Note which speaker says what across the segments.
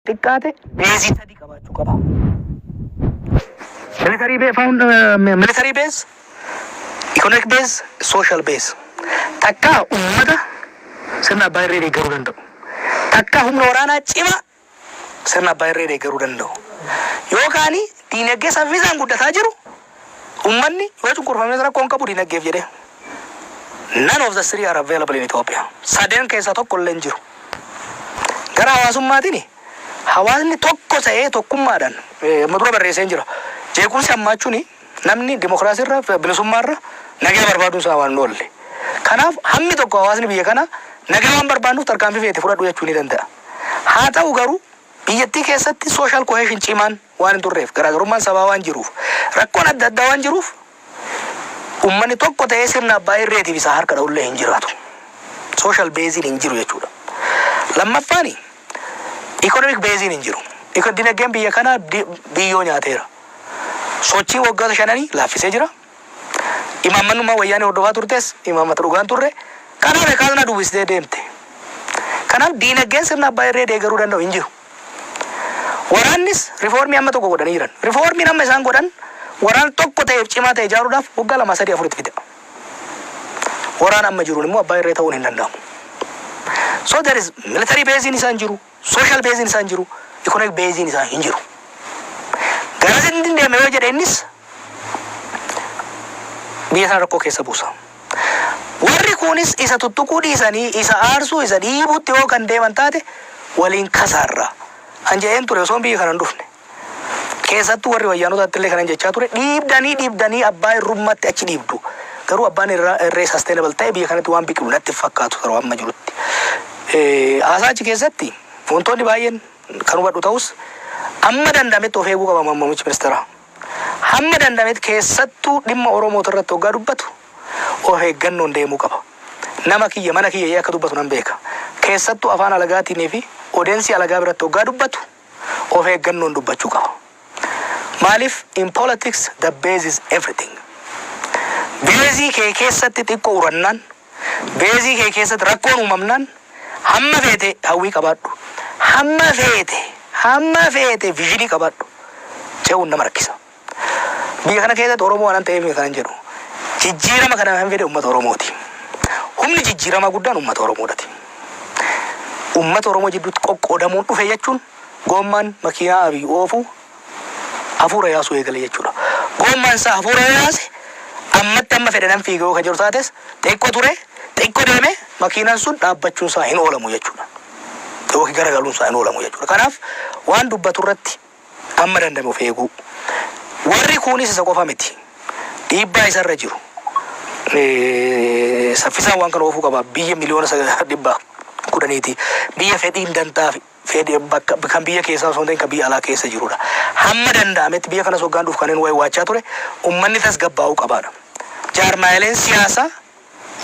Speaker 1: xiqqaate beezii sadii qabaachuu qaba. Militarii bee faawun militarii beez ikonoomik beez sooshaal beez takkaa uummata sirna abbaa irree deeggaruu danda'u takkaa humna waraanaa cimaa sirna abbaa irree deeggaruu danda'u yookaan diinagdee saffisaan guddataa jiru Ummanni yoo cunqurfames rakkoo hin qabu dinaggeef jedhee. None of the three are available in Ethiopia. Sadeen keessaa tokko illee hin jiru. Gara hawaasummaatini, hawaasni tokko ta'ee tokkummaadhaan, amma dura barreesseen jira. Jeequmsi hammaachuuni namni dimokiraasii irra, bilisummaa irra nagaa barbaaduun isaa waan hin oolle. Kanaaf hammi tokko hawaasni biyya kanaa nagaa waan barbaannuuf tarkaanfii feete fudhadhu jechuu ni danda'a. Haa ta'u garuu biyyattii keessatti social cohesion cimaan, waan hin turreef, garaagarummaan sabaa waan jiruuf, rakkoon adda addaa waan jiruuf ummanni tokko ta'ee sirna abbaa irreetiif isaa harka dha'ullee hin jiraatu. Social base'n hin jiru jechuudha. Lammaffaan economic base'n hin jiru. Iko- Dinagdeen biyya kanaa di- biyyoo nyaateera. Sochii waggoota shananii laaffisee jira. Imaammannummaa wayyaanee hordofaa turtes imaammata dhugaan turre. Kanaaf kaasnaa dubbistee deemte. Kanaaf diinagdeen sirna abbaa irree deegaruu danda'u hin jiru. Waraannis rifoormii amma tokko godhanii jiran. Rifoormiin amma isaan godhan waraana tokko ta'eef cimaa ta'e ijaaruudhaaf waggaa lamaa sadii afur itti fida. Waraana amma jiruun immoo abbaa irree ta'uun hin danda'amu. So there is military beeziin isaa hin jiru, social beeziin isaa hin jiru, economic beeziin isaa hin jiru. Garasitti hin deemne yoo jedhe innis biyya sana rakkoo keessa buusa. Warri kuunis isa tuttuquu dhiisanii isa aarsuu isa dhiibuutti yoo kan deeman taate waliin kasaarra. An jedheen ture osoon biyya kana hin dhufne. Keessattuu warri wayyaanotaatti illee kanan jechaa ture dhiibdanii dhiibdanii abbaa irrummaatti achi dhiibdu. Garuu abbaan irraa irree sustainable ta'e biyya kanatti waan biqilu natti hin fakkaatu yeroo amma jirutti. Eh, Haasaa achi keessatti wantoonni baay'een kan hubadhu ta'us amma danda'ametti of eeguu qaba muummichi ministeeraa. Hamma danda'ametti keessattuu dhimma Oromoot irratti oggaa dubbatu of eeggannoon deemuu qaba. Nama kiyya, mana kiyya jedhee akka dubbatu nan beeka. Keessattuu afaan alagaatiin fi odensii alagaa biratti oggaa dubbatu of eeggannoon dubbachuu qaba. Maaliif in politics the base is everything. Beezii kee keessatti xiqqo urannaan Beezii kee keessatti rakkoon uumamnaan hamma feete hawwii qabaadhu, hamma feete, hamma feete viizhinii qabaadhu ce'uun nama rakkisa. Biyya kana keessatti Oromoo waanan ta'eef miti kanan jedhu. Jijjiirama kana kan fide uummata Oromooti. Humni jijjiiramaa guddaan uummata Oromoodhati. Uummata Oromoo jidduutti qoqqoodamuun dhufe jechuun goommaan makiinaa Abiy oofu hafuura yaasuu eegale jechuudha. Goommaan isaa hafuura yoo yaase ammatti amma fedhe nan fiiga yoo ka jedhu taates xiqqo ture xiqqo deeme makiinaan sun dhaabbachuun isaa hin oolamu jechuudha. Yookiin garagaluun isaa hin oolamu jechuudha. Kanaaf waan dubbatu irratti amma dandame of eeguu. Warri kuunis isa qofa miti. Dhiibbaa isarra jiru. Eh, Saffisaan waan kana oofuu qaba. Biyya miliyoona sagal- dhibba kudhaniiti. Biyya fedhiin dantaa fi fedhi bakka kan biyya keessaa osoo hin ta'in kan biyya alaa keessa jirudha. Hamma danda'ametti biyya kanas hoggaan dhufu kanin waa'ee waachaa ture ummanni tasgabbaa'uu qabaadha. Jaarmaayaleen siyaasaa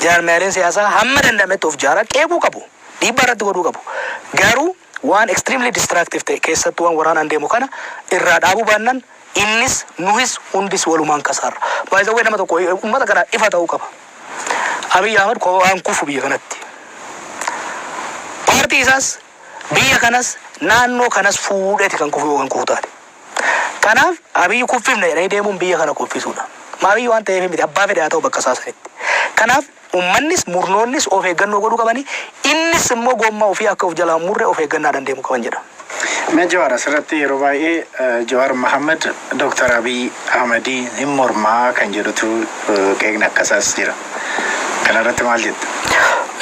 Speaker 1: jaarmaayaleen siyaasaa hamma danda'ametti of jaaraa qeequu qabu. Dhiibbaa irratti godhuu qabu. Garuu waan extremely destructive ta'e keessattuu waan waraanaan deemu kana irraa dhaabuu baannan Innis, nuhis, hundis walumaan kasaarra. By the way nama tokko ummata kanaaf ifa ta'uu qaba. Abiy Ahmed kophaa hin kufu biyya kanatti. Paartii isaas, biyya kanas, naannoo kanas fuudheeti kan kufu yoo kan kufu taate. Kanaaf Abiy kuffifna jedhanii deemuun biyya kana kuffisuudha. Maaliyyuu waan ta'eef miti abbaa fedhe haa ta'u bakka isaa sanitti. Kanaaf. Ummannis, murnoonnis of eeggannoo godhuu qabani, innis immoo goommaa ofii akka of jalaa hin murre of eeggannaadhan deemu qaban jedha. Mee Jawaar
Speaker 2: asirratti yeroo baay'ee Jawaar Mohammed Dr. Abiy Ahmedii hin mormaa kan jedhutu qeeqni akkasaas jira. Kanarratti maal jetta?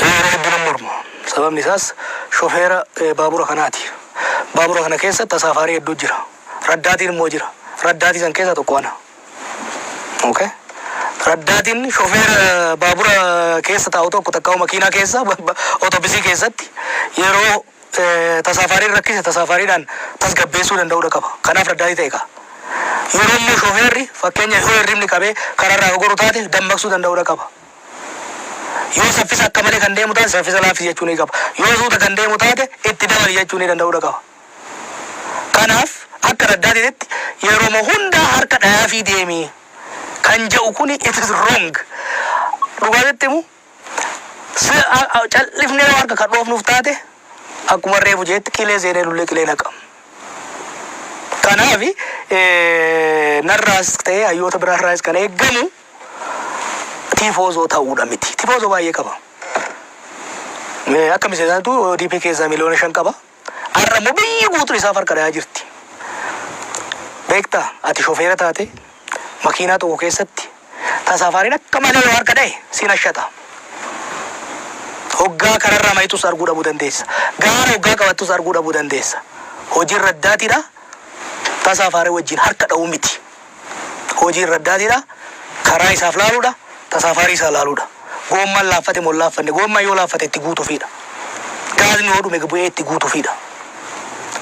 Speaker 2: Yeroo hedduu nan
Speaker 1: morma. Sababni isaas shofeera baabura kanaati. Baabura kana keessa tasaafaarii hedduu jira. Raddaatiin immoo jira. Raddaatii san keessaa tokko ana. Okay. Raddaatiin shofeera baabura keessa taa'u tokko takka makiinaa keessa otobisii keessatti yeroo tasaafaariin rakkise tasaafaariidhaan tasgabbeessuu danda'uudha qaba. Kanaaf raddaatii ta'e qaba. Yeroo immoo shofeerri fakkeenya yoo hirribni qabee karaarraa gogoru taate dammaqsuu danda'uudha qaba. Yoo saffisa akka malee kan deemu taate saffisa laaffisi jechuu ni qaba. Yoo suuta kan deemu taate itti dabali jechuu ni danda'uudha qaba. Kanaaf akka Raddaatiititti yeroma hundaa harka dhayaafii deemi kan ja'u kuni it is wrong. Dhugaa sitti himu cal'ifnee yoo harka kan dhoofnuuf taate akkuma reefu jeetti qilee seenee lullee qilee naqa. Kanaafi narraas ta'ee hayyoota biraa irraas kan eeggamu tiifoozoo ta'uudha miti. Tifoozoo baay'ee qaba. Akka miseensaatu ODP keessaa miliyoona shan qaba. Har'a immoo biyyi guutuun isaaf harka dhayaa jirti. Beektaa? Ati shofeera taatee makiinaa tokko keessatti tasaafaariin akka malee yoo harka dhaye si nashata. Hoggaa kararraa mayitus arguu dhabuu dandeessa. Gaara hoggaa qabattus arguu dhabuu dandeessa. Hojiin raddaatiidha. Tasaafaaree wajjin harka dhawuu miti. Hojiin raddaatiidha. Karaa isaaf laaluudha. Tasaafaarii isaa laaluudha. Goommaan laaffate moo hin laaffanne? Goommaan yoo laaffate itti guutufiidha. Gaazni yoo dhume bu'ee itti guutufiidha.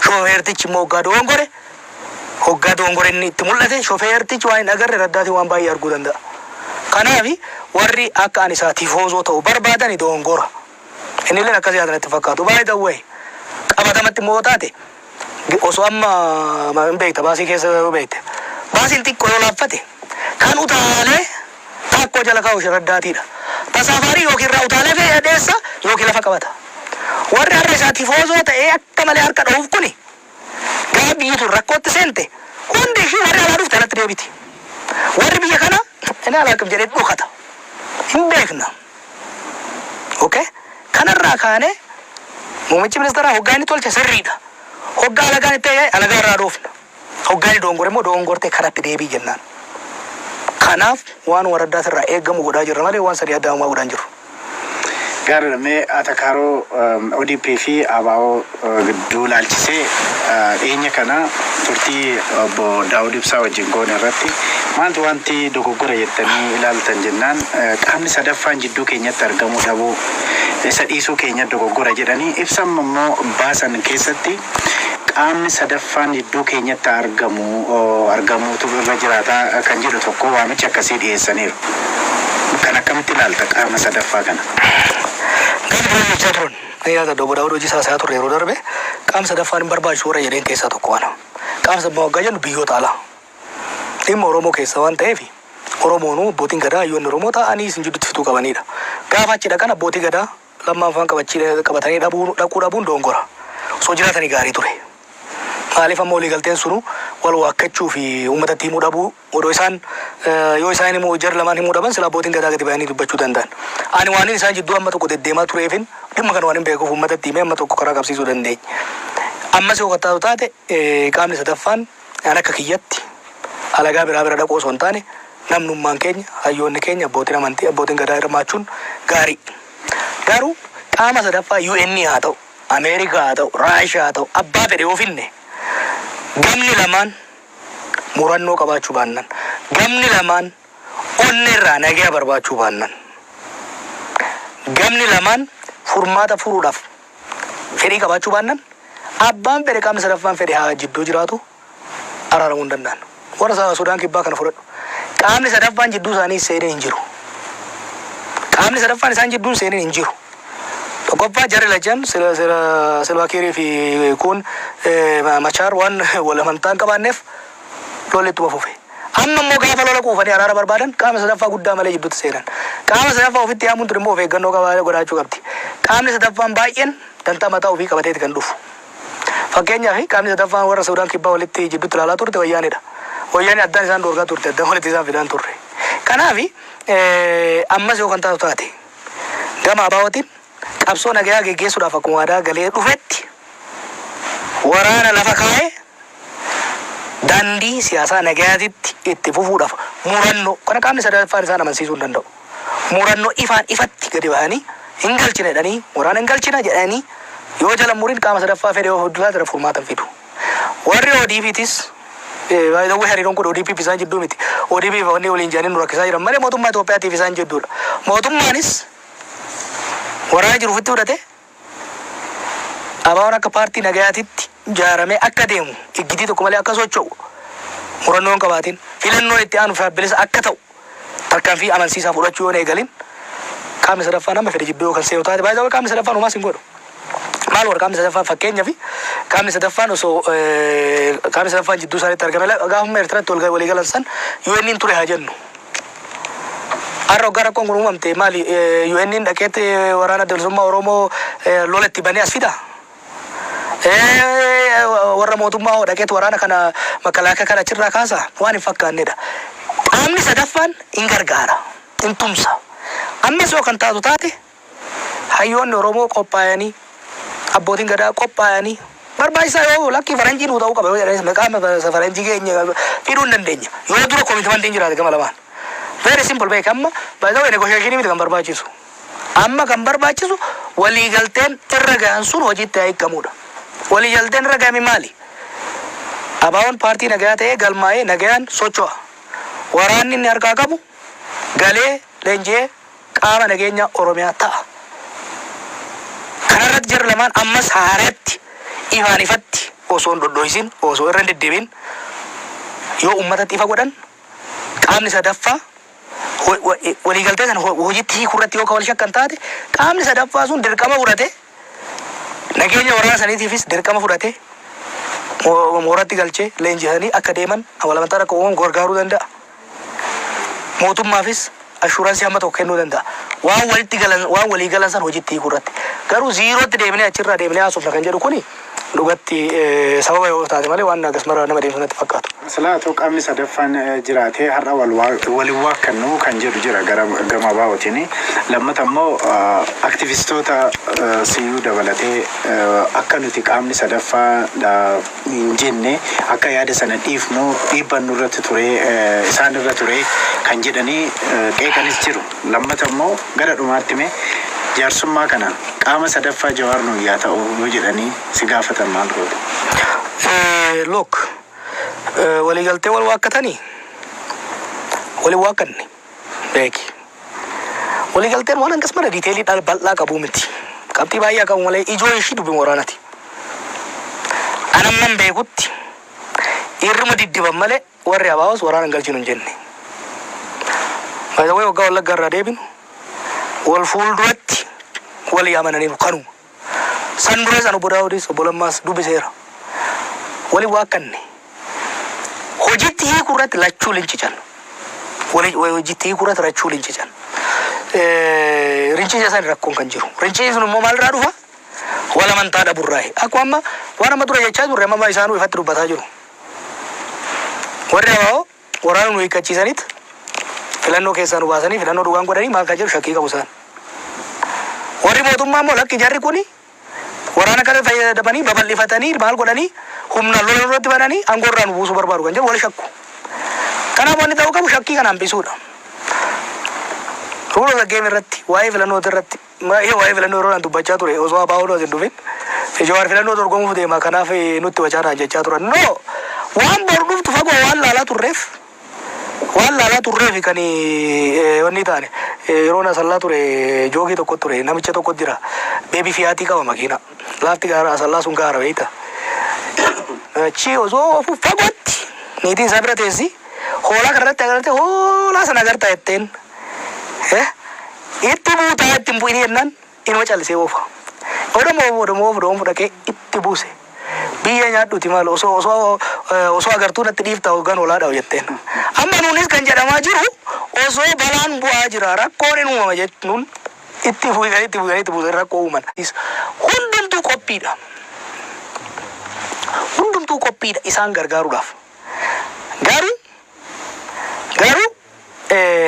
Speaker 1: Shofeertichi immoo hoggaa dogongore, hoggaa dogongore inni itti mul'ate shofeertichi waan hin agarre raddaatiin waan baay'ee arguu danda'a. Kanaaf warri akka ani isaa tifoozoo ta'u barbaadani dogongora. Innilleen akkas yaada natti hin fakkaatu. By the way, qabatamatti immoo yoo taate Osoo amma hin beekta baasii keessa yoo beekte. Baasiin xiqqoo yoo laaffate kan utaalee taakkoo jala kaa'u sharaddaatiidha. Tasaafaarii yookiin irraa utaalee fe'ee dheessa yookiin lafa qabata. Warri har'a isaa tifoozoo ta'ee akka malee harka dha'uuf kuni gaafa biyyi tun rakkootti seente hundi ishii warri alaa dhufte alatti deebiti. Warri biyya kana inni alaaqif jedhee dhokata. Hin beekna. Ok kana irraa kaanee muummichi ministeeraa hoggaa inni tolche sirriidha. Hoggaa alagaan itti ajaje alagaa irraa dhoofna. Hoggaa inni doongore immoo doongortee karatti deebii jennaan. Kanaaf waan waraddaa sirraa eegamu godhaa jirra malee waan sadii addaa homaa godhaa hin jirru. Gaariidha
Speaker 2: mee Atakaaroo ODP fi ABO gidduu ilaalchisee dhiyeenya kana turtii obbo Daawud Ibsaa wajjin goone irratti maaltu wanti dogoggora jettanii ilaaltan jennaan qaamni sadaffaan jidduu keenyatti argamuu dhabuu isa dhiisuu keenya dogoggora jedhanii ibsa amma immoo baasan keessatti qaamni sadaffaan jidduu keenyatti argamu argamuutu irra jiraataa kan jedhu tokko waamicha akkasii dhiyeessaniiru. Kan akkamitti ilaalta qaama sadaffaa kana?
Speaker 1: Galma Jabroon Nan yaadadha Obbo Daawud Hojiisaa haasa'aa turre yeroo darbe, Qaamni sadaffaan hin barbaachisu warra jedheen keessaa tokko ana. Qaamni sadaffaa waggaa jennu biyyoota alaa. Dhimma Oromoo keessaa waan ta'eef Oromoonuu abbootiin gadaa hayyoonni Oromoo taa'anii isin jidduutti fixuu qabaniidha. Gaafa achi dhaqan abbootii gadaa lammaan faan qabatanii dhabuu dhaquu dhabuun doongora. Osoo jiraatanii gaarii ture. Maaliif amma waliigalteen sunuu wal waakkachuu fi uummatatti himuu dhabuu Odoo isaan, yoo isaan immoo jari lamaan himuu dhaban silaa abbootiin gadaa gadi bayanii dubbachuu danda'an. Ani waanin isaan jidduu amma tokko deddeemaa tureefin dhimma kana waanin beekuuf uummatatti himee amma tokko karaa qabsiisuu dandeenye. Ammas yoo kan taatu taate qaamni sadaffaan an akka kiyyatti alagaa biraa bira dhaquu osoo hin taane namnummaan keenya, hayyoonni keenya, abbootiin amantii, abbootiin gadaa hirmaachuun gaarii. Garuu qaama sadaffaa UN haa ta'u, Ameerikaa haa ta'u, Raashiyaa haa ta'u abbaa fedhe yoo finne gamni lamaan, murannoo qabaachuu baannan, gamni lamaan onnee irraa nagaya barbaachuu baannan, gamni lamaan furmaata furuudhaaf fedhii qabaachuu baannan, abbaan fedhe qaamni sadaffaan fedhe haa jidduu jiraatu araaramuu hin danda'an. Warra Sudaan Kibbaa kana fudhadhu. Qaamni sadaffaan jidduu isaanii seenee hin jiru. Qaamni sadaffaan isaan jidduun seenee hin jiru. Tokkoffaa jarri lachan sila sila silvaakiirii fi kun machaar waan wal amantaa hin qabaanneef lolli ittuma fufe. Amma immoo gaafa lola quufanii araara barbaadan qaama sadaffaa guddaa malee jidduutti seenan. Qaama sadaffaa ofitti yaamuun tun immoo of eeggannoo qabaa godhaachuu qabdi. Qaamni sadaffaan baay'een dantaa mataa ofii qabateeti kan dhufu. Fakkeenyaaf, qaamni sadaffaan warra Suudaan Kibbaa walitti jidduutti ilaalaa turte Wayyaaneedha. Wayyaaneen addaan isaan dhoorgaa turte, addaan walitti isaan fidaa hin turre. Kanaaf, ammas yoo kan taatu taate, gama ABOtiin qabsoo nagayaa geggeessuudhaaf akkuma waadaa galee dhufetti waraana lafa kaa'ee daandii siyaasaa nagayaatitti itti fufuudhaaf murannoo kana qaamni sadaffaan isaan amansiisuu hin danda'u. murannoo ifaan ifatti gadi bahanii hin galchina jedhanii mooraan hin galchina jedhanii yoo jala hin murin qaama sadaffaa fedhe yoo fuddu taate irra furmaata hin fidu. Warri ODPtis eh, by the way hariiroon kun ODP fi isaan jidduu miti. ODP fi wanni waliin jedhanii nu rakkisaa jiran malee mootummaa Itoophiyaatiif isaan jidduudha. Mootummaanis waraana jiru ofitti fudhatee ABOn akka paartii nagayaatitti jaaramee akka deemu, iggitii tokko malee akka socho'u, murannoo hin qabaatin, filannoon itti aanu ifaa fi bilisa akka ta'u tarkaanfii amansiisaa fudhachuu yoo hin eegalin, qaamni sadaffaan amma fedhe jidduu yoo kan seenu taate, by the way qaamni sadaffaan homaas hin godhu. Maal warra qaamni sadaffaan fakkeenyaaf qaamni sadaffaan osoo qaamni sadaffaan jidduu isaaniitti argame gaafuma Eertiratti walii galan san UN'n ture haa jennu. Har'a hoggaa rakkoon kun uumamte maali UN'n dhaqeet waraana adda bilisummaa Oromoo lola itti banee as fida? Warra mootummaa hoo dhaqeet waraana kana makalaakaa kana achirraa kaasa? Waan hin fakkaannedha. Qaamni sadaffaan hin gargaara, hin tumsa. Ammas yoo kan taatu taate hayyoonni Oromoo qophaayanii, abbootiin gadaa qophaayanii barbaachisaa yoo lakkii faranjii nuu ta'uu qaba yoo jedhanis maqaa faranjii keenya fiduu hin dandeenya. Yoo dura komitmantiin jiraate gama lamaan. Very simple beeki amma by the way negotiation miti kan barbaachisu. Amma kan barbaachisu waliigalteen irra gahan sun hojiitti haa hiikamuudha. Waliigalteen irra gahame maali? Abaawoon paartii nagayaa ta'ee galmaa'ee nagayaan socho'a. Waraanni inni harkaa qabu galee leenji'ee qaama nageenyaa Oromiyaa ta'a. Kana irratti jarri lamaan ammas haareetti ifaan ifatti osoo hin dhodho'isin, osoo irra hin deddeebi'in yoo uummatatti ifa godhan qaamni sadaffaa waliigaltee sana hojiitti hiikuu irratti yoo kan wal shakkan taate qaamni sadaffaa sun dirqama fudhatee Nageenya waraana saniitiifis dirqama fudhatee mooratti galchee leenjisanii akka deeman awalamantaan akka uumamu gargaaruu danda'a. Mootummaafis ashuuransii hamma tokko kennuu danda'a. Waan walitti galan waan walii galan san hojiitti hiikuu irratti. Garuu ziirootti deebinee achirraa deebinee haasofna kan jedhu kuni Dhugatti sababa yoo taate malee waan akkas maraa nama deemsu natti fakkaatu. Silaa otoo qaamni
Speaker 2: sadaffaan jiraatee har'a wal hin waakkannu kan jedhu jira gara gama ABOtiin. Lammata immoo aktivistoota siyyuu dabalatee akka nuti qaamni sadaffaa dha hin jenne akka yaada sana dhiifnu dhiibbaan nurratti turee isaan irra turee kan jedhanii qeeqanis jiru. Lammata immoo gara dhumaatti mee jaarsummaa kana qaama sadaffaa Jawaar nuuf yaa ta'u yoo jedhanii si gaafatan maal goota?
Speaker 1: Look, waliigaltee wal waakkatanii wal hin waakkanne beeki. Waliigalteen waan hangas mara diiteelii dhala bal'aa qabuu miti. Qabxii baay'ee qabu malee ijoo ishii dubbi waraanati. Anamman beekutti dhiirruma diddiban malee Warri ABOs waraana hin galchinu hin jenne. By the way waggaa Wallaggaa irraa deebinu wal fuulduratti walii amananiiru kanuma. San duras an Obbo Daawudis Obbo Lammaas dubbiseera. Waliin waakkanne. Hojiitti hiikuu irratti lachuu lincican. Wali hojiitti hiikuu irratti lachuu lincican. Rincica san rakkoon kan jiru. Rincici sun immoo maalirraa dhufa? Wal amantaa dhaburraayi. Akkuma amma waan amma dura jechaa turre amma isaanuu ifatti dubbataa jiru. Warri abaa'oo waraana nu hiikkachiisanit filannoo keessaa nu baasanii filannoo dhugaan godhanii maal kan jedhu shakkii qabu isaan. Warri mootummaa immoo lakki jarri kuni waraana kana fayyadamanii babal'ifatanii maal godhanii humnaan lola nurratti bananii aangoo irraa nu buusuu barbaadu kan jedhu wal shakku. Kanaaf wanni ta'uu qabu shakkii kana hambisuudha. Rule of the game irratti waa'ee filannootii irratti Maayii waa'ee filannoo yeroo naan dubbachaa ture osoo Abaawoon as hin dhufin Jawaar filannoo dorgomuuf deema kanaaf nutti wacaa naan jechaa turan. No! Waan boru dhuftu fagoo waan laalaa turreef waan laalaa turreefi kan wanni taane yeroon asallaa ture joogii tokko ture namicha tokko jira beebi fiyaatii qaba makiina laafti gaara asallaa sun gaara beeyta achi osoo ofu fagootti niitiin isaa bira teessi hoolaa kanarratti agartee hoolaa sana agartaa jetteen Eh itti buutaa itti hin bu'inii jennaan inuma callisee oofa. Odoma oofu odoma oofu doonfu dhaqee itti buuse. Biyyee nyaadhuuti maal osoo osoo eh, osoo agartuu natti dhiiftaa hoggaan olaa dha'u jetteen. Amma nuunis kan jedhamaa jiru osoo balaan bu'aa jira rakkoon in uumama jechuun itti buusan itti buusan itti buusan rakkoo uuman. Is- Hundumtuu qophiidha. Hundumtuu qophiidha isaan gargaaruudhaaf. Garuu garuu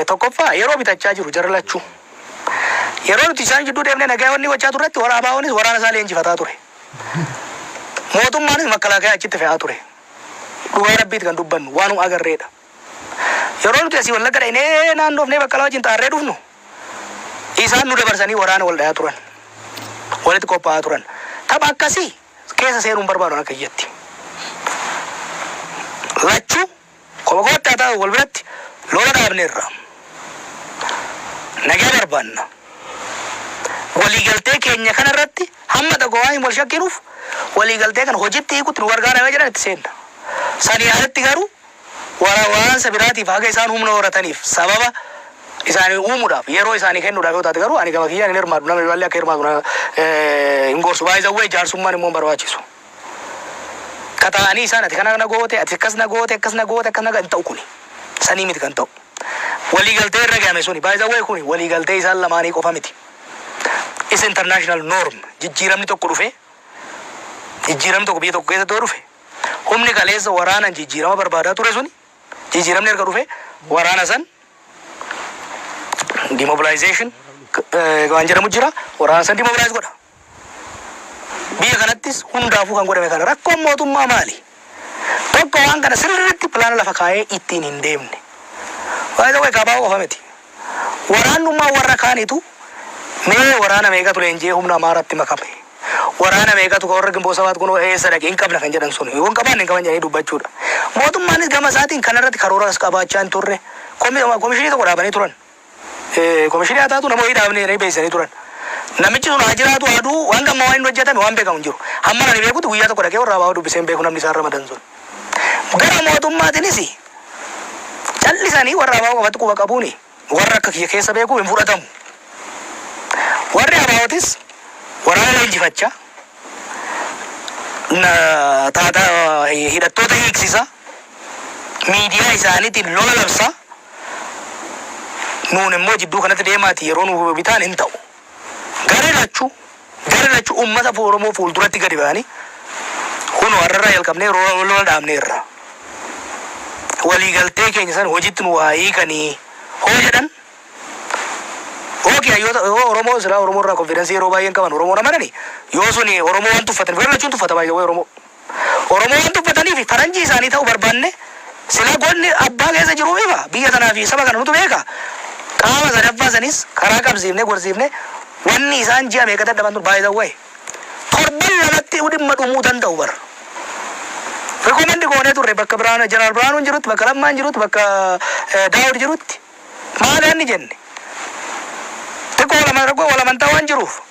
Speaker 1: Tokkoffaa yeroo bitachaa jiru jara lachuu. Yeroo nuti isaan jidduu deemnee nagaya wanni gochaa turretti warra ABOnis waraana isaa leenjifataa ture. Mootummaanis makkalaakaya achitti fe'aa ture. Dhugaa Rabbiiti kan dubbannu waanuma agarreedha. Yeroo nuti asii Wallagga dhaynee naannoofnee Baqqalaa wajjin xaarree dhufnu isaan nu dabarsanii waraana wal dhayaa turan. Walitti qophaa'aa turan. Tapha akkasii keessa seenuu hin barbaadu akka kiyyatti. Lachuu Koba kootti haa ta'u wal biratti lola dhaabneerra. Nagaa barbaanna. Waliigaltee keenya kana irratti hamma dhagooaaiin wal shakkinuuf waliigaltee kana hojitti hiikutti nu gargaara yoo jedhan itti seenna. Sanii alatti garuu wara waansa biraatiif haga isaan humna horataniif sababa isaanii uumuudhaaf yeroo isaanii kennuudhaaf yoo taate garuu ani gama kiyyaan hin hirmaadhu nama biraallee akka hirmaatu na hin gorsu. By the way jaarsummaan immoo hin barbaachisu. Tataa'anii isaan ati kana na goote, ati akkas na goote, akkas na goote, akkas na hin ta'u kuni. Sanii miti kan ta'u. Walii galtee irra gahame suni. By the way kuni walii galtee isaan lamaanii qofa miti. Is international norm. Jijjiiramni tokko dhufee jijjiiramni tokko biyya tokko keessatti yoo dhufe humni kaleessa waraanan jijjiirama barbaadaa ture suni jijjiiramni erga dhufe waraana san demobilization eh, waan jedhamu jira waraana san demobilize godha. Biyya kanattis hundaafuu kan godhame kana. Rakkoon mootummaa maali? Tokko waan kana sirriitti pilaana lafa kaa'ee ittiin hin deemne. By the way kaa Abaawo qofa miti. Waraannummaa warra kaaniitu mee waraana meeqatu leenji'ee humna Amaaraatti makame? Waraana meeqatu ka warra Ginboot Sabaat kunoo eessa dhaqe hin qabna kan jedhan sun yoo hin qabaanne hin qaban jedhanii dubbachuudha. Mootummaanis gama isaatiin kanarratti karooras qabaachaa hin turre. Komi, komishinii tokko dhaabanii turan. Komishinii haa taatu namoonni dhaabne jedhanii beeksisanii turan. Namichi sun haa jiraatu haa du'u hanga ammaa waan inni hojjetame waan beekamu hin jiru. Hamman ani beekutti guyyaa tokko dhaqee warra ABO dubbisee hin beeku namni isaan ramadan sun. Gara mootummaatinis callisanii warra ABO qofatti quba qabuuni warra akka kiyya keessa beeku hin fudhatamu. Warri ABOtis waraana leenjifachaa na taata hidhattoota hiiksisa miidiyaa isaaniitiin lola labsaa Nuun immoo jidduu kanatti deemaatii yeroo nu bitaan hin ta'u. Garri lachuu, garri lachuu uummata Oromoo fuulduratti gadi ba'anii kunoo har'arraa jalqabnee roora wal lola dhaabneerra. Waliigaltee keenya san hojiitti nuu haa hiikanii hoo jedhan ok hayyoota yoo Oromoo silaa Oromoo irraa konfidansii yeroo baay'een qaban Oromoon amananii yoo suni Oromoo waan tuffatan garri lachuun tuffata baay'ee Oromoo. Oromoo waan dubbataniifi faranjii isaanii ta'uu barbaanne silaa godni abbaa keessa jiruu ifa, biyya tanaafi saba kana nutu beeka. Qaama sadaffaa sanis karaa qabsiifnee gorsiifne wanni isaan ji'a meeqa dadhaban tun by the way torban lamatti'uu dhimma dhumuu danda'u bar. Recommend goonee turre bakka Birhaanu Jeneraal Birhaanuun jirutti, bakka Lammaan jirutti, bakka Daawud jirutti. Maali hanni jenne? Xiqqoo wal amantaa waan jiruuf.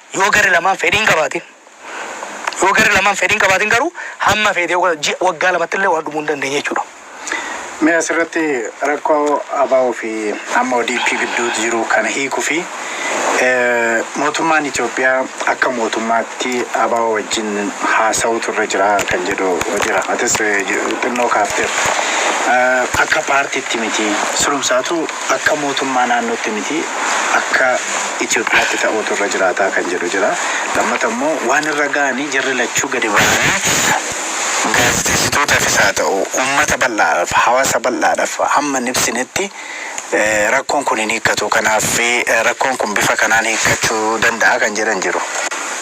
Speaker 1: Yoo garri lamaan fedhii hin qabaatin Yoo garri lamaan fedhii hin qabaatin garuu hamma feete yoo godha ji'a waggaa lamatti illee waan dhumuu hin dandeenye jechuudha. Mee
Speaker 2: asirratti rakkoo ABO fi amma ODP gidduutti jiru kana hiikuu fi mootummaan Itoophiyaa akka mootummaatti ABO wajjin haasa'uutu irra jira kan jedhu jira. Atis xinnoo kaafteerta. Akka paartiitti miti. Sulumsaatu Akka mootummaa naannootti miti akka Itoophiyaatti ta'uutu irra jiraataa kan jedhu jira. Lammata immoo waan irra ga'anii jarri lachuu gadi ba'anii gaazexeessitootaafis haa ta'u uummata bal'aadhaaf hawaasa bal'aadhaaf hamma hin ibsinetti rakkoon kun hin hiikkatu. Kanaaf rakkoon kun bifa kanaan hiikkachuu danda'a kan jedhan jiru.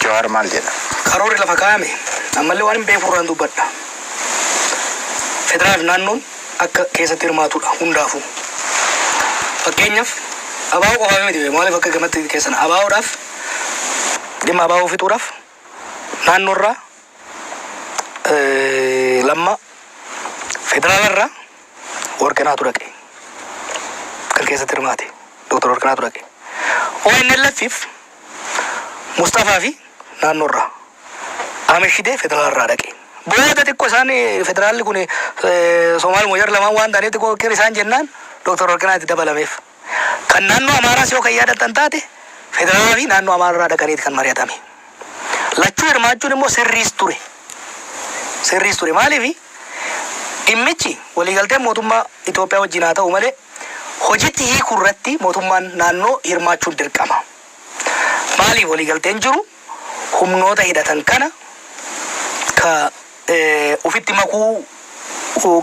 Speaker 2: Jawaar maal jedha? Karoorri lafa kaa'ame
Speaker 1: ammallee waanin beekurraan dubbadha. Federaalaa fi naannoon. akka keessatti hirmaatudha hundaafu fakkeenyaf Abawo qofafi miti bee maalif akka gamatti keessana Abawodhaf dhimma Abawo fixuudhaf naannoo irraa lamma federaala irraa warqinaatu dhaqe kan keessatti hirmaate Dr. Warqinaatu dhaqe ONLFif Mustafaa fi naannoo irraa Amishidee federal irraa dhaqe. Booda xiqqo isaan federaalli kun Somaal Moojar lamaan waan ta'aniif xiqqoo qir isaan jennaan Dr. Warqinaa itti dabalameef. Kan naannoo Amaaraas yoo kan yaadattan taate federaalaa fi naannoo Amaara irraa dhaqaniiti kan mari'atame. Lachuu hirmaachuun immoo sirriis ture. Sirriis ture maaliif dhimmichi waliigalteen mootummaa Itoophiyaa wajjin haa ta'u malee hojitti hiikuu irratti mootummaan naannoo hirmaachuun dirqama. Maaliif waliigalteen jiru humnoota hidhatan kana ka ufitti makuu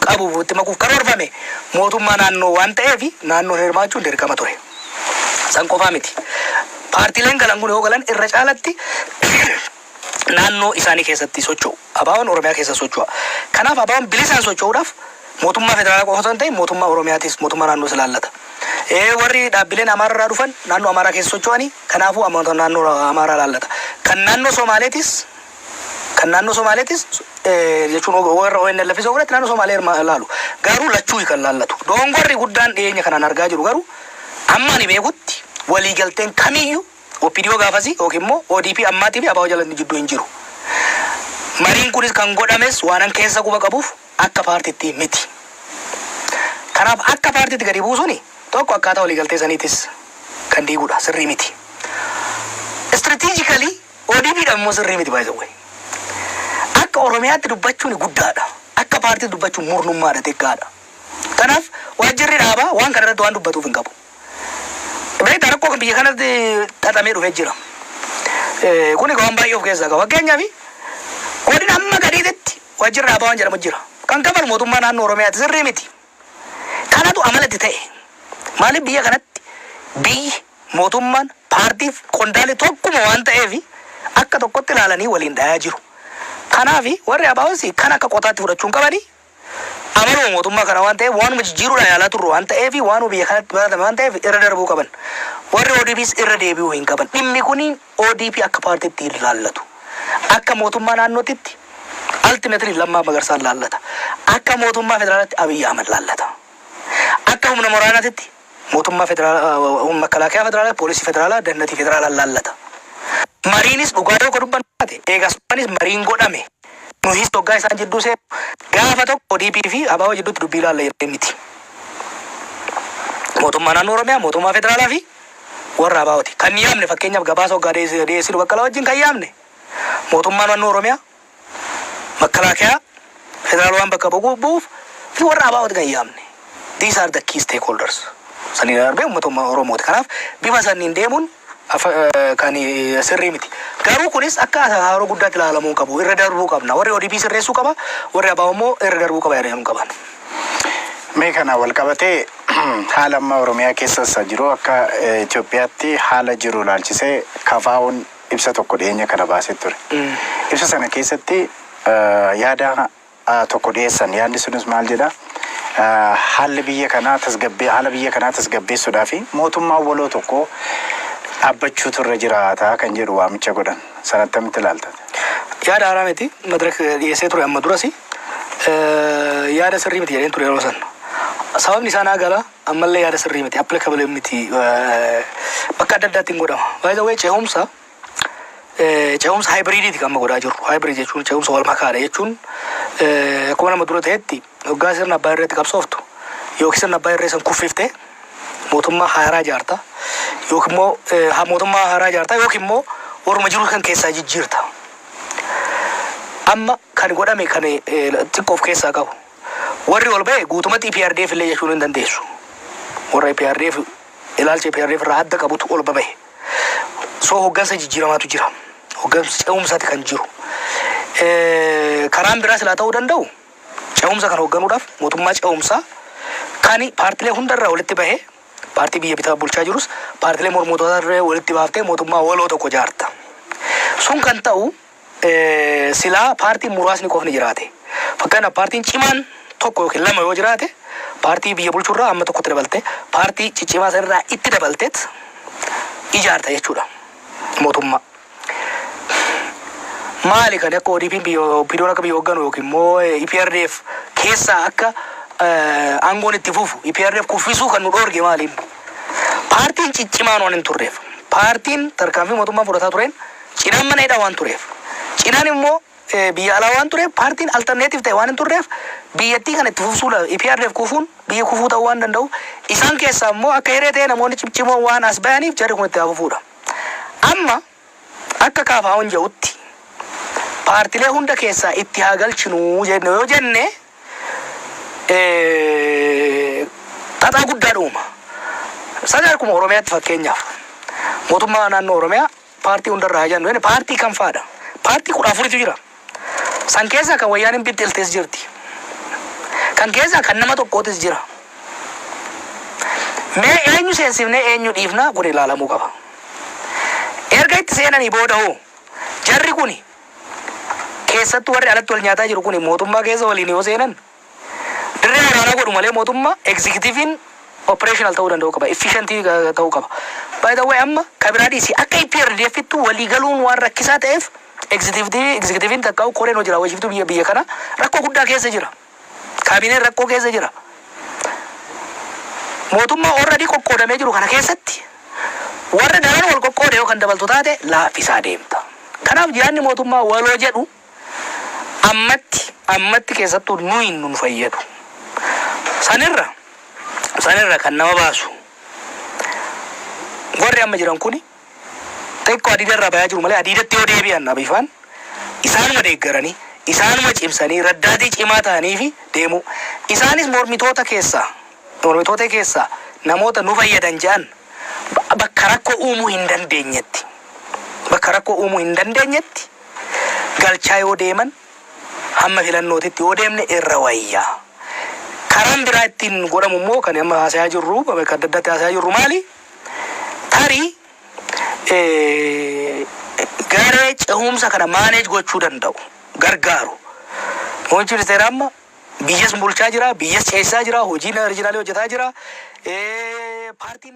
Speaker 1: qabu ufitti makuuf karoorfame mootummaa naannoo waan ta'eef naannoon hirmaachuun dirqama ture. San qofaa miti. Paartileen galan kun yoo galan irra caalatti naannoo isaanii keessatti socho'u. ABOn Oromiyaa keessa socho'a. Kanaaf ABOn bilisaan socho'uudhaaf Mootummaa federaalaa qofa osoo hin ta'iin mootummaa Oromiyaatis, mootummaa naannoos ilaallata. Ee warri dhaabbileen Amaara irraa dhufan naannoo Amaaraa keessa socho'ani, kanaafuu ammoota naannoo Amaaraa ilaallata. Kan naannoo Somaaleetis kan naannoo Somaaleetis jechuun warra ONLFis yoo fudhatte naannoo Somaalee irma ilaalu. Garuu lachuu kan ilaallatu. Doongorri guddaan dhiyeenya kanaan argaa jiru garuu amma ani beekutti waliigalteen kamiyyu Opdo gaafasii ykn immoo odp ammaatii fi abo jala jidduu hin jiru. Mariin kunis kan godhames waanan keessa quba qabuuf akka paartiitti miti. Kanaaf akka paartiitti gadi buusuun tokko akkaataa waliigaltee saniitis kan diigudha, sirrii miti. Strategically odp dhaaf immoo sirrii miti by the way. Akka Oromiyaatti dubbachuun guddaadha. Akka paartiitti dubbachuun murnummaadha, xiqqaadha. Kanaaf waajjirri dhaabaa waan kana irratti waan dubbatuuf hin qabu. Beektaa rakkoo kan biyya kanatti xaxamee dhufee jira. Eh, Kun egaa waan baay'ee of keessaa qaba. Fakkeenyaaf godina amma gadiititti waajjirri dhaabaa waan jedhamu jira. Kan kafalu mootummaa naannoo Oromiyaati sirrii miti. Kanatu amala itti ta'e. Maaliif biyya kanatti biyyi mootummaan paartiif qondaalli tokkuma waan ta'eef akka tokkotti ilaalanii waliin dhayaa jiru. Kanaaf warri abaa'oos kan akka qotaatti fudhachuu hin qabani amanuma mootummaa kana waan ta'eef waanuma jijjiiruudhaa yaalaa turru waan ta'eef waanuma biyya kanatti baratame waan ta'eef irra darbuu qaban. Warri ODPs irra deebi'uu hin qaban. Dhimmi kuni ODP akka paartiitti hin laallatu. Akka mootummaa naannootitti ultimately Lammaa Magarsaan laallata. Akka mootummaa federaalatti Abiy Ahmed laallata. Akka humna moraanatitti Mootummaa Federaalaa, Makalaakiyaa Federaalaa, Poolisii Federaalaa, Dannatii Federaalaa laallata. Mariinis dhugaa yoo ka dubbannu taate, eegas dhufaniis mariin godhame. Nuhiis hoggaa isaan jidduu seennu, gaafa tokko ODP fi ABO jidduutti dubbii laalla jedhanii miti. Mootummaa Naannoo Oromiyaa, Mootummaa Federaalaa fi warra ABOti. Kan yaamne fakkeenyaaf gabaasa hoggaa dhiyeessinu Baqqalaa wajjin kan yaamne Mootummaa Naannoo Oromiyaa, Makkalaakayaa federaal waan bakka bu'uuf bu'uuf fi warra ABO'ti kan yaamne. These are the key stakeholders. Saniin darbee uummata umma- Oromooti. Kanaaf bifa sanniin deemuun afa- eh, kan eh, sirrii miti. Garuu kunis akka haaroo guddaatti ilaalamuu hin qabu. Irra darbuu qabna. Warri ODP sirreessuu qaba, warri ABO immoo irra darbuu qaba yaadamuu hin qaban.
Speaker 2: Mee kana wal qabatee haala amma Oromiyaa keessa isa jiru akka eh, Itoophiyaatti haala jiru ilaalchisee kafaa'uun ibsa tokko dhiyeenya kana baasee ture. Ibsa sana keessatti yaada tokko dhiyeessan. Yaadni sunis maal jedha? Haalli biyya kanaa tasgabbee haala biyya kanaa tasgabbeessuudhaa fi mootummaan waloo tokko dhaabbachuutu irra jiraata kan jedhu waamicha godhan. Sana attamitti ilaalta? Yaada haaraa
Speaker 1: miti. Madirak dhiyeessee ture amma durasi. Yaada sirrii miti jedheen ture yeroo sana. Sababni isaa naa gala. ammallee yaada sirrii miti applicable miti bakka adda addaatti hin godhama by the way ce'umsa ce'umsa haayibriidiiti kan amma godhaa jirru haayibriid jechuun ce'umsa wal makaadha jechuun akkuma nama dura ta'etti hoggaa sirna abbaa irreetti qabsooftu yookiin sirna abbaa irree san kuffiftee mootummaa haaraa jaarta yookiin immoo haa mootummaa haaraa jaarta yookiin immoo warruma jiru kan keessaa jijjiirta amma kan godhame kan xiqqoof keessaa qabu Warri ol ba'e guutumatti eprdf illee jechuu hin dandeessu. Warra eprdf ilaalcha eprdf irraa adda qabutu ol babahe. So hoggansa jijjiiramaatu jira. Hoggansa ce'umsaati kan jiru. Eh, Karaan biraa silaa ta'uu danda'u ce'umsa kan hogganuudhaaf mootummaa ce'umsaa kan paartilee hundarraa walitti bahee paartii biyya bitaa bulchaa jirus paartilee mormootaa irraa walitti baaftee mootummaa waloo tokko jaarta. Sun kan ta'u Silaa paartiin muraasni qofni jiraate, fakkeenyaaf paartiin cimaan tokko yookiin lama yoo jiraate, paartii biyya bulchu irraa amma tokkotti dabaltee, paartii ciccimaa san irraa itti dabalteet ijaarta jechuu dha mootummaa. Maali kan akka ODPn biyya OPDOn akka biyya hoogganu yookiin immoo EPRDF keessaa akka aangoon itti fufu EPRDF kuffisuu kan nu dhoorge maaliin? Paartiin ciccimaan waan hin turreef, paartiin tarkaanfii mootummaan fudhataa tureen Cinaan mana hidhaa waan tureef, Cinaan immoo biyya alaa waan tureef paartiin alternative ta'e waan hin turreef biyyattii kana itti fufsuu la, EPRDF kufuun biyyi kufuu ta'uu waan danda'uuf isaan keessaa immoo akka hiree ta'ee namoonni cimcimoon waan as ba'aniif jarri kun itti haa fufuudha. Amma akka KFOn jedhutti paartilee hunda keessaa itti haa galchinuu jenne yoo jenne xaxaa guddaadha uuma. Sani akkuma Oromiyaatti fakkeenyaaf mootummaa naannoo Oromiyaa Paartii hunda irraa haa jannu jenne paartii kam faa dha? Paartii 14tu jira. San keessaa kan Wayyaaneen bixxiltes jirti. Kan keessaa kan nama tokkootis jira. Mee eenyu seensifnee eenyu dhiifna kun ilaalamuu qaba. Erga itti seenanii booda hoo jarri kuni keessattuu warri alatti wal nyaataa jiru kuni mootummaa keessa waliin yoo seenan Dirree waraanaa godhu malee mootummaa executive'n operational ta'uu danda'uu qaba. Efficient ta'uu qaba. By the way amma ka biraa dhiisi akka EPRDF'ttu walii galuun waan rakkisaa ta'eef executive executive'n takkaa'uu koreen hojii raawwachiiftuu biyya biyya kanaa rakkoo guddaa keessa jira. Kaabineen rakkoo keessa jira. Mootummaa already qoqqoodamee jiru kana keessatti warra daran wal qoqqoode yoo kan dabaltu taate laaffisaa deemta. Kanaaf yaadni mootummaa waloo jedhu Ammatti, ammatti keessattuu nuyi nun fayyadu. Sanirra, sanirra kan nama baasu warri amma jiran kuni xiqqoo adiida irraa bayaa jiru malee adiidatti yoo deebi'an Abiy faan isaanuma deeggaranii, isaanuma cimsanii, raddaatii cimaa ta'aniifi deemuu. Isaanis mormitoota keessaa, mormitoota keessaa namoota nu fayyadan jedhan bakka rakkoo uumuu hin dandeenyetti, bakka rakkoo uumuu hin dandeenyetti, galchaa yoo deeman hamma filannootitti yoo deemne irra wayya. Karaan biraa ittiin godhamu immoo kan amma haasayaa jirru bakka adda addaatti haasayaa jirru maali? Tarii eh, garee cehumsa kana maaneej gochuu danda'u gargaaru. Muummichi ministeeraa amma biyyas bulchaa jira, biyyas ceesisaa jira, hojii riijinaalii hojjetaa jira. Eh, Paartiin